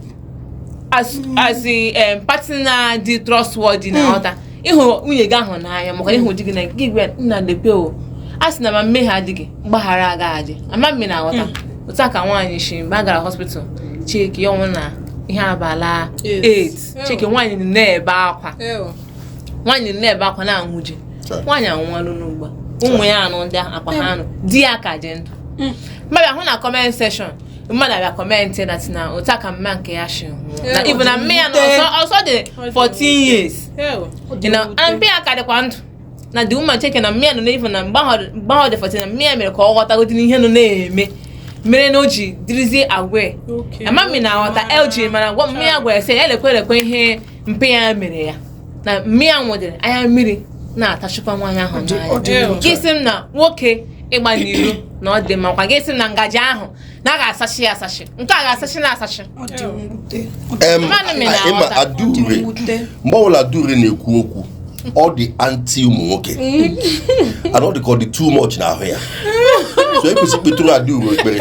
as as a um, partner dị trustworthy ị na-aghọta ịhụrụ nwunye gị ahụ n'anya maka ịhụ di gị na gị gwa nna lekwe o a sị na ma mmehie adịghị mgbaghara aga adị ama m ma ị na-aghọta hmm. otu a ka nwaanyị si mgbe a gara hospital check ya ọ wụ na ihe abala 8 chike nwaanyị na-ebe akwa nwaanyị na-ebe akwa na-aṅụ ji nwaanyị anwụọlụ ugbu a ụmụ ya anwụọ ndị akpa ha anwụọ di ya ka dị ndụ hmm. m abịa hụ na comment section mmadụ abịa comment na tina otu a ka mma nke ya shi nwụọ na ibu na mma ya na ọzọ ọzọ dị 14 years Ị na a mpa ya ka dịkwa ndụ na the woman cheke na mma ya nọ n'ifu na mgbe ahụ mgbe ahụ dị 14 na mma ya mere ka ọ ghọtagodị n'ihe nọ na-eme mere na o ji dịrịzie aware ama m ma ị na-aghọta LG mana gwa mma ya gwara sị ya elekwe elekwe ihe mpa ya mere ya na mma ya nwụdịrị anya mmiri na-atasịkwa nwaanyị ahụ n'anya gị sị m na nwoke ịgba n'iro na ọ dị mma kwa gị sị m na ngaji ahụ na a ga-asacha ya asacha nke a ga-asacha na asacha mgbe ọbụla dure na-ekwu okwu ọ dị anti ụmụ nwoke mm. and ọ dị ka ọ dị too much n'ahụ ya so ekwesị kpetụrụ adị uru ekpere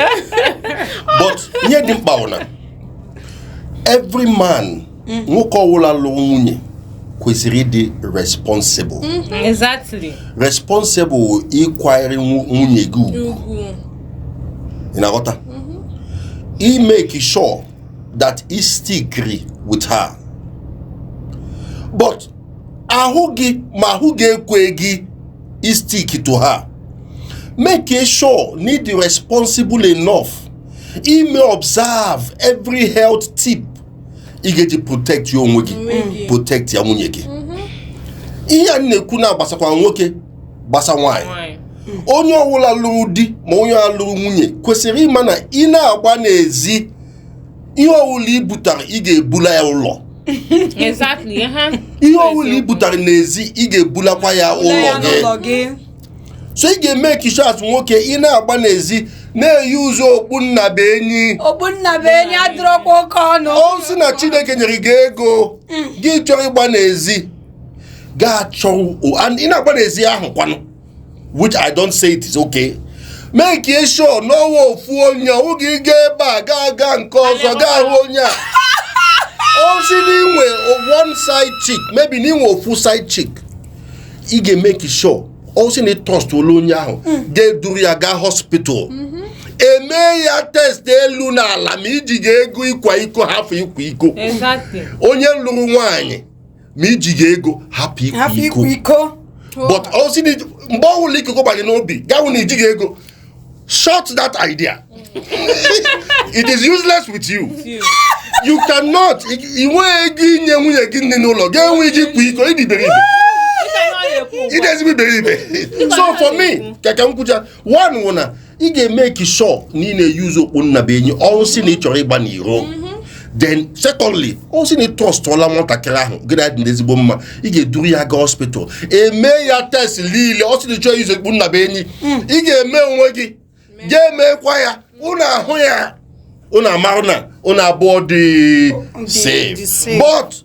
but ihe dị mkpa bụ na every man mm. nwoke ọwụla lụrụ nwunye kwesịrị ịdị responsible mm-hmm. exactly responsible ịkwanyere nwunye gị ugwu ị na-aghọta mm-hmm. ịmake sure that i stickiri with her but ahụ gị ma ahụ gị ekwegị istick to her make sure na ị dị responsible enough ime observe every health tip ị ga-eji protectia onwe gị protectia nwunye gị mhm. ihe a na-ekwu na-agbasakwa nwoke gbasa nwaanyị onye ọbụla lụrụ di ma onye ọbụla lụrụ nwunye kwesịrị ịma na ị na-agba n'ezi ihe ọbụla i butara ị ga-ebula ya ụlọ ihe ọbụla i butara n'ezi ị ga-ebulakwa ya ụlọ gị so ị ga-emake sure as nwoke ị na-agba n'ezi na-euse okpu nnabuenyi okpu nnabuenyi adịrọkwa oke ọnụ ọ sị na chineke nyere gị ego gị chọọ ịgba n'ezi ga-achọ o- and ị na-agba n'ezi ahụ kwanụ which i don't say it is okay make sure na ọ wụ ofu onye ọ wụghị gaa ebe a gaa gaa nke ọzọ gaa hụ onye a ọ sị na inwe one side chick maybe na inwe ofu side chick ị ga-emake sure ọ sị na ị trustọla onye ahụ mm. ga-eduru ya gaa hospital mm-hmm. e mee ya test elu na ala ma i jighị ego ịkwa iko hapụ ịkwa iko onye lụrụ nwaanyị ma i jighị ego hapụ ịkwa iko but ọ sị mgbe ọ bụla ịkwa iko gba gị n'obi gaa hụ na ijighị ego shut that idea it is useless with you you cannot i nwee ego inye nwunye gị dị n'ụlọ ga-enwe iji kwa iko ị dị iberibe ị dị ezigbo iberibe so for me ka ka m kwuchaa one wụ na ị ga-emeke sure na ị na-eyuzu okpu nnabenyi ọ wụ sị na ị chọrọ ịgba n'iro then secondly ọ sị na ị trọstụọla nwatakịrị ahụ gị na ya dị n'ezigbo mma ị ga-eduru ya gaa hospital emee ya test niile ọ sị na ị chọghị iyuzu okpu nnabenyi hmm. ị ga-eme onwe gị ga-emekwa ya ụnụ ahụ ya ụnụ amarụ na ụnụ abụọ dị safe but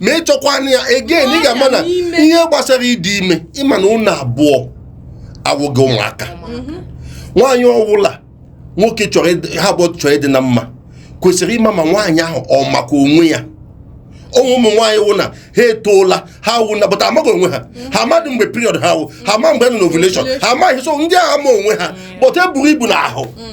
ma ị chọkwana ya again ị ga-ama na ihe gbasara ịdị ime ịma na ụnụ abụọ awụghị ụmụaka mhm. nwaanyị ọwụla nwoke chọrọ ha abụọ chọrọ ịdị na mma kwesịrị ịma ma nwaanyị ahụ ọ makwa onwe ya o nwere ụmụ nwaanyị wụ na ha etoola ha wụ na but ha amaghị onwe ha ha amadụ mgbe period ha wụ ha ama mgbe nọ na ha amaghị so ndị ahụ ama onwe ha but ha eburu ibu n'ahụ mm.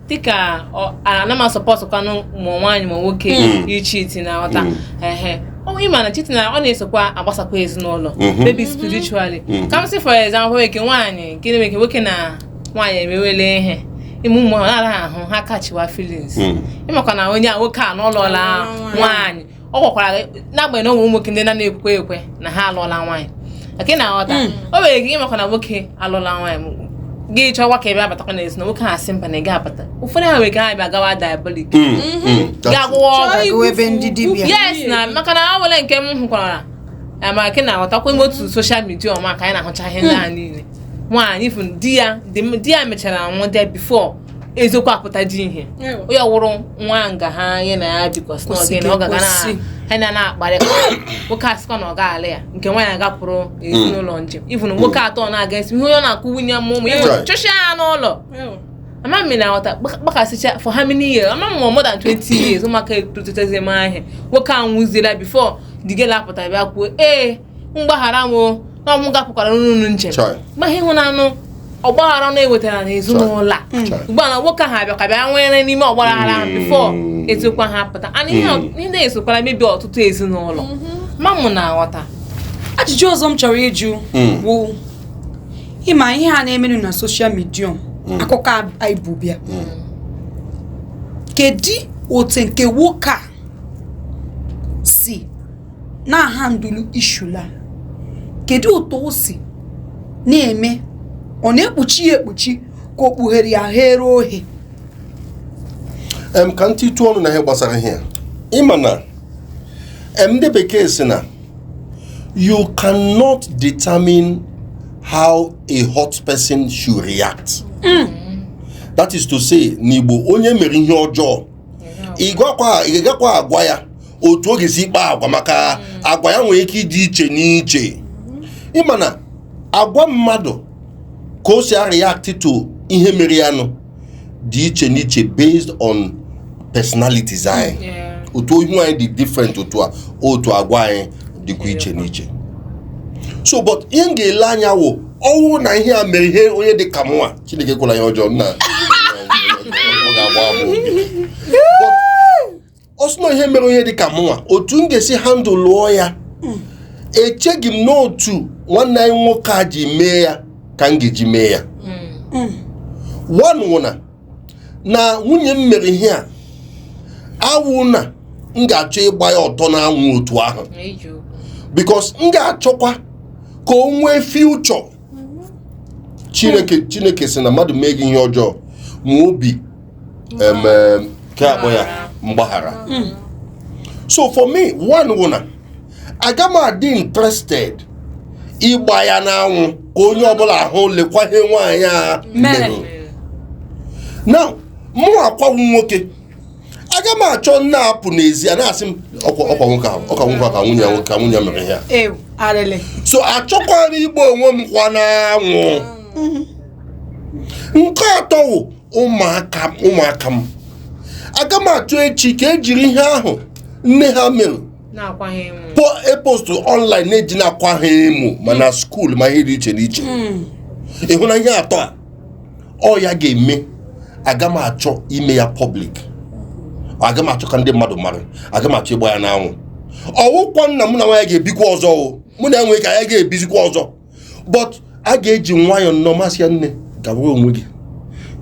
dịka ana m asọpọtụkwanụ ma nwaanyị ma nwoke hmm. ichiti na ọta hmm. ehe ị ma na cheating ọ na-esokwa agbasakwa ezinụlọ hmm. maybe spiritually ka m sị for example eke nwaanyị nke na-eme eke nwoke na nwaanyị emewele ihe ime ụmụ ahụ na-araghị ahụ ha kachiwa feelings ịmakwa na onye a nwoke a alụọla nwaanyị ọ gwakwara gị n'agbanyeghị na ụmụ nwoke ndị na-anaghị ekwe ekwe na ha alụọla nwaanyị ọ kwa ị na-aghọta Mm. o nwere ike ịmakwa na nwoke alụọla nwaanyị gị chọwa ka ebe abatakwa na ezi na nwoke ha sị mba na ị ga-abata ụfọdụ ha nwere ike ha bịa gawa diabolik Mm, mm, that's gaa gwọwa ọgwụ Chọọ agawa ebe ndị dibịa. yes na maka na o nwere nke m hụkwara ya ma gị na-aghọtakwa ime otu soshal midia ọma ka anyị na-ahụcha ihe ndị a niile nwaanyị fụ di ya di ya mechara nwụọ di ya bifo eziokwu apụtaji ihe onye ọ wụrụ nwaanyị ahụ ya na ya bikọs n'oge na ọ ga ha na na-akparị nwoke asịkọ na ọ ga-ala ya nke nwaanyị agapụrụ ezinụlọ hmm. njem even hmm. nwoke atọ na-aga esi ihe onye na-akụ nwunye m ụmụ iwe chụcha ya n'ụlọ ama m na-aghọta kpakasịcha for how many years ama m more than 20 years ụmụaka etotezi m ahịa nwoke anwụziela before the girl apụta bịa kwuo ee gbaghara m o na ọ mụ gapụkwara unu njem Chọị. mgbe ihe ịhụnanụ ọgbaghara na ewetara na ezinụlọ a Chọị. ugbu a na nwoke ahụ abịa ka bịa nwere n'ime ọgbaghara ahụ bifo Mm. eziokwu ahụ apụta ana ihe a- ihe na-esokwara mebi ọtụtụ ezinụlọ ma ị na-aghọta ajụjụ ọzọ m chọrọ ịjụ Mm. bụ ịma ihe a na-emenụ na soshal midia akụkọ a- anyị bu bịa kedu otu nke nwoke a si na-ahandụlụ issue a kedu otu o si na-eme ọ na-ekpuchi ya ekpuchi ka o kpughere ya ghere ohe em ka m titụ ọnụ na ihe gbasara ihe a ịma na em ndị bekee sị na you cannot determine how a hurt person should react that is to say n'igbo onye e mere ihe ọjọọ ị gakwa agwa ya otu ọ ga-esi kpaa agwa maka hmm. agwa ya nwere ike ịdị iche n'iche ịma na agwa mmadụ ka o si react to ihe mere ya nụ dị iche n'iche based on personality anyị otu ihu anyị dị different otu a otu agwa anyị dịkwa iche n'iche so but ihe m ga-ele anya wụ ọ wụ na ihe a mere ihe onye dị ka mụnwa Chineke ekwela ihe ọjọọ nna ọ ga-agba agba ọ sị na ihe mere onye dị ka mụnwa otu m ga-esi handụlụọ ya echeghị m na otu nwanne anyị nwoke a ji mee ya ka m ga-eji mee ya hmm. one wụ na na nwunye m mere ihe a awụ na m ga-achọ ịgba ya ọtọ n'anwụ otu ahụ because m ga-achọkwa ka o nwee future chineke chineke sị na mmadụ mee gị ihe ọjọọ nwee obi ka a kpọ ya mgbaghara hmm. so for me one wụ na aga m adị interested ịgba ya n'anwụ ka onye ọbụla ahụ lekwa ihe nwaanyị a mere na mụwakwa wụ nwoke aga m achọ m na-apụ n'ezi a na-asị m ọkwa ọkwa nwoke ahụ ọkwa nwoke ahụ ka nwunye ya ka nwunye ya mere ihe a ewu arịlị so achọkwara m ịgba onwe m kwa n'anwụ nke atọ wụ ụmụaka m ụmụaka m aga m achọ echi ka e jiri ihe ahụ nne ha mere na-akwaghị enwe po e postụrụ online na-eji na-akwa ha emo ma na school ma ihe dị iche n'iche ịhụ na ihe atọ a ọ ya ga-eme aga m achọ ime ya public aga m achọ ka ndị mmadụ mara aga m achọ ịgba ya n'anwụ ọ wụkwa na mụ na nwaanyị ga-ebikwa ọzọ o mụ na ya nwee ike anyị ga-ebizikwa ọzọ but a ga-eji nwayọọ nnọọ m asị ya nne gawara onwe gị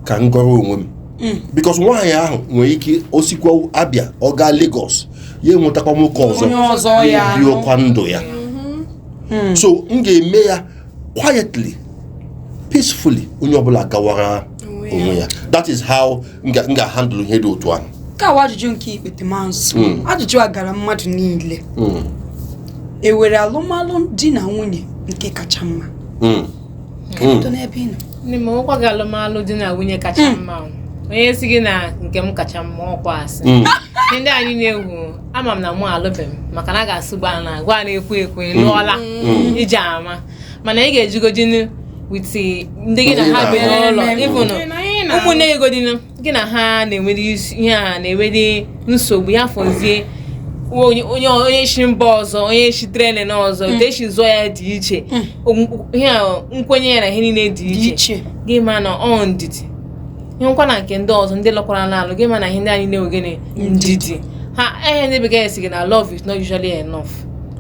ka m gọrọ onwe m mm. because nwaanyị ahụ nwere ike o sikwa Abịa ọ gaa Lagos ya enwetakwa nwoke ọzọ biwekwa ndụ ya mm-hmm. so m ga-eme ya quietly peacefully onye ọbụla agawara onwe ya that is how m ga-handle ihe dị otu ahụ nke a wụ ajụjụ nke ikpeta m azụ hmm. ajụjụ a gara mmadụ niile hmm. e nwere alụmalụ di na nwunye nke kacha mma hmm. ọkwa gị alụmalụ di na nwunye kacha mma onye sị gị na nke m kacha mma ọkwa asị ndị anyị na-ewu ama m na mụ alụbeghị m maka na a ga-asị gwa na gwa na-ekwu ekwu ị lụọla Mm. iji ama mana ị ga-ejigodinu with ndị gị na ha bi n'ụlọ even ụmụnne gị godinu gị na ha na-enwere isi- ihe a na-enwere nsogbu ya fọzie onye onye onye si mba ọzọ onye si training ọzọ otu e si zụọ ya dị iche Okwu- ihe a, nkwenye ya na ihe niile dị dị iche iche gị ma na ọ ndidi ịhụkwa na nke ndị ọzọ ndị lụkwaranụ alụ gị ma na ihe ndị anyị na-enwe gịnị ndidi ha ihe ndị bekee sị gị na love is not usually enough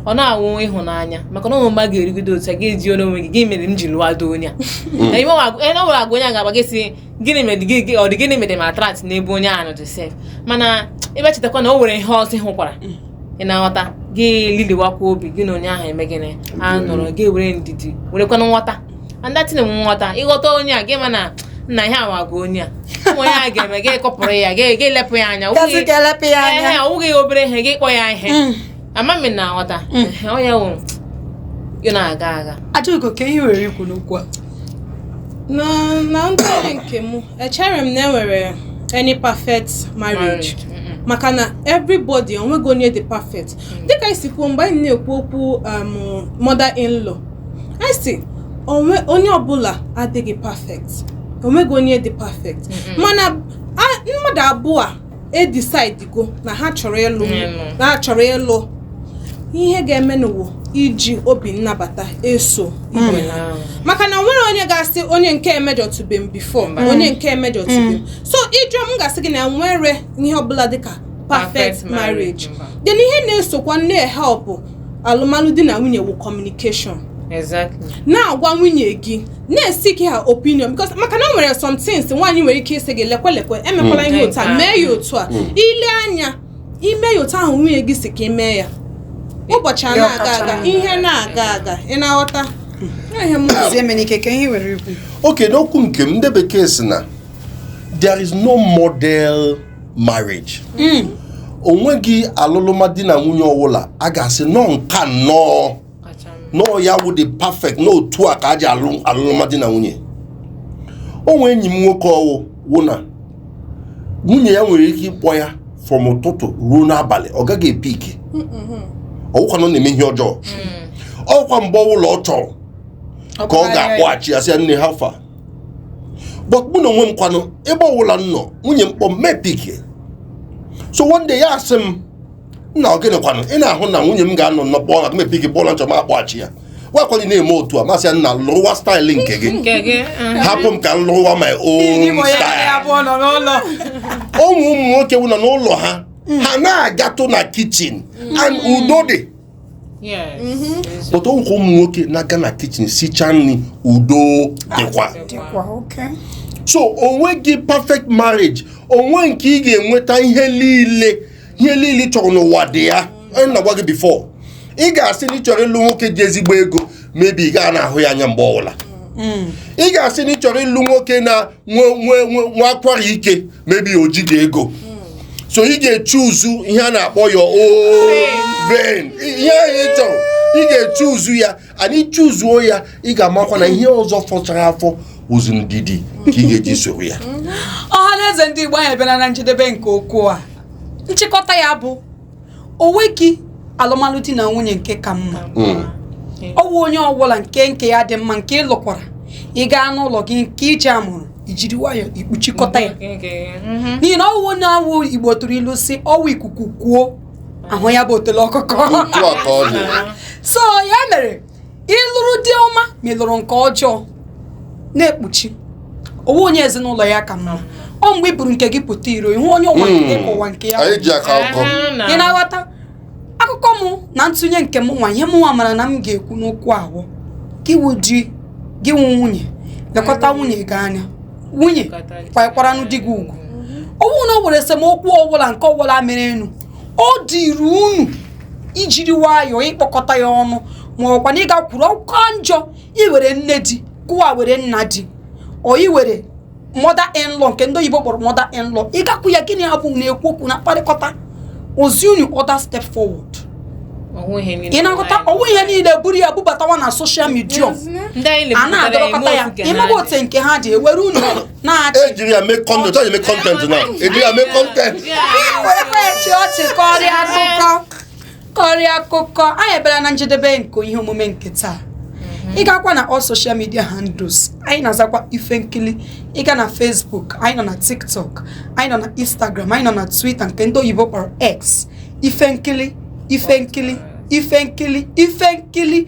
ọ na-awụ ịhụnanya maka na o nwee mgbe ọ ga-erugide otu a ị ga-ajụzi onwe gị gịnị mere m ji lụọdị onye a na o nwere agwa onye a ga-akpa gị sị gịnị mere gị ọ dị gịnị mere m attract n'ebe onye ahụ nọ sef mana ị bịa chetakwa na o nwere ihe ọzọ ị hụkwara ị na-aghọta gị liliwakwa obi gị na onye ahụ eme gịnị a nọrọ gị were ndidi werekwana nghọta understanding nghọta ịghọta onye a gị ma na nna iwe awago onye a o nwee ihe onye a ga-eme gị pụọrọ ya gị gị lepụ ya anya Gazi ka e lepụ ya anya. Ehe, ọ wụghị obere ihe gị kpọọ ya ihe Mm. ama m ị na-aghọta Mm. Ehe, ọ ya wụ ọ na-aga aga Ajọgo kee ihe i nwere ikwu n'okwu a na na ntụnye nke m echerọ m na e nwere any perfect marriage maka na everybody onweghị onye dị perfect mm. dịka i si kwuo mgbe anyị na-ekwu okwu um, mother in law anyị sị onwe onye ọbụla adịghị perfect onweghị onye dị perfect mana mmadụ abụọ edecidego na ha chọrọ ịlụ na ha chọrọ ịlụ ihe ha ga-emenụ wụ iji obi nnabata eso ibe ha hmm. maka na e nwerọ onye ga-asị onye nke a emejọtube m before onye nke a emejọtube m hmm. so ị jụọ m m ga-asị gị na e nwerọ ihe ọbụla dịka perfect marriage then ihe na-esokwa na-ehelpụ alụmalụ di na nwunye wụ communication exactly na-agwa nwunye gị na-eseek her opinion because maka na o nwere some things nwaanyị nwere ike ịsị gị lekwe lekwe emekwala ihe otu a Mm. mee ya otu a Mm. i lee anya i mee ya otu ahụ nwunye gị si ka ị mee ya ụbọchị a Ya na-aga ọ kacha aga mma. ihe na-aga aga ị na-aghọta Ya ihe m kwuru. zie mere ike kee ihe i nwere ikwu okay n'okwu nke m ndị bekee sị na there is no model marriage Mm. o nweghị alụlụma di na nwunye ọbụla a ga-asị na ọ nke a nnọọ Kacha mma. na ọ ya wụ the perfect na otu a ka a ji alụ alụlụma di na nwunye o nwee enyi m nwoke ọ wụ wụ na nwunye ya nwere ike ịkpọ ya from ụtụtụ ruo n'abalị ọ gaghị epick ọ wụkwa na ọ na-eme ihe ọjọọ ọ wụkwa mgbe ọbụla ọ chọrọ ka ọ ga-akpọghachi ya sị ya nne how far but mụ na onwe m kwanụ ebe ọwụla m nọ nwunye m kpọọ m m epikie so one day ya asị m nna ọ gịnị kwanụ ị na-ahụ na nwunye m ga-anọ nnọọ kpọọ na m epikie mgbe ọbụla m chọrọ m akpọghachi ya gwakwaghị na-eme otu a m asị ya nna lụwa style nke gị nke gị mm. hapụ m ka m lụwa my Gị bụ own onye style ya bụ nọ n'ụlọ o nwe ụmụ nwoke wụ na n'ụlọ ha ha anaghị agatụ na kichin and udo dị but o nwekwa ụmụ nwoke na-aga na kichin sichaa nri udo dịkwa so o nweghị perfect marriage o nwe nke ị ga-enweta ihe niile ihe niile ị chọrọ n'ụwa dị ya na-agwa gị before ị ga-asị na ị chọrọ ịlụ nwoke ji ezigbo ego maybe ị gaghị na-ahụ ya anya mgbe ọbụla mm. ị ga-asị na ị chọrọ ịlụ nwoke na nwe nwe nwe akwara ike maybe o jighị ego so ị ga-echuzu ihe a na-akpọ ya oven ihe ahụ ị chọrọ ị ga-echuzu ya and ị chuzuo ya ị ga-amakwa na ihe ọzọ fọchara afọ ọ wụzi ndidi ka ị ga-eji soro ya ọha na eze ndị igbo anyị abịala na njedebe nke okwu a nchịkọta ya bụ o nweghị alụmalụ di na nwunye nke ka mma hmm. ọ bụ onye ọbụla nke nke ya dị mma nke ị lụkwara ị gaa n'ụlọ gị nke i ji amụrụ i jiri nwayọọ i kpuchikọta ya mhm. n'ihi na ọ wụ onye a wụ igbo tụrụ ilu sị ọ wụ ikuku kuo a hụ ya bụ otele ọkụkọ so ya mere ị lụrụ di ọma ma ị lụrụ nke ọjọọ na-ekpuchi o nwe onye ezinụlọ ya ka mma ọ mgbe i buru nke gị pụta iro ị hụ onye ụwa hmm. nke ụwa nke ya anyị ji aka akụkọ ị na-aghọta akụkọ mụ na ntụnye nke mụnwa ihe mụnwa mara na m ga-ekwu n'okwu a wụ gị wụ di gị wụ nwunye lekọta nwunye gị anya nwunye kwanyekwaranụ di gị ugwu ọ wụ na o nwere esemokwu ọbụla nke ọbụla merenụ ọ dịrị unu i jiri nwayọọ ị kpọkọta ya ọnụ ma ọ kwanụ ị gakwuru ọ ka njọ i were nne di kụwa were nna di ọ i were mother in law nke ndị oyibo kpọrọ mother in law ị gakwuru ya gị na ya abụọ na-ekwu okwu na-akparịkọta o zi unu other step forward ị na-aghọta ọ wụghị ihe niile buru ya bubatawa na social media a na-adọrọkọta ya ị maghị otu nke ha dị e were unu ejiri ya mee kọntent e ji mee kọntent na ejiri ya mee kọntent a chịa ọchị kọrịa akụkọ kọrịa akụkọ anyị abịala na njedebe nke ihe omume nke taa ị gaakwa na all social media handles anyị na-azakwa ife nkili ị gaa na Facebook anyị nọ na TikTok anyị nọ na Instagram anyị nọ na Twitter nke ndị oyibo kpọrọ X ife nkili ife nkili ife nkili ife nkili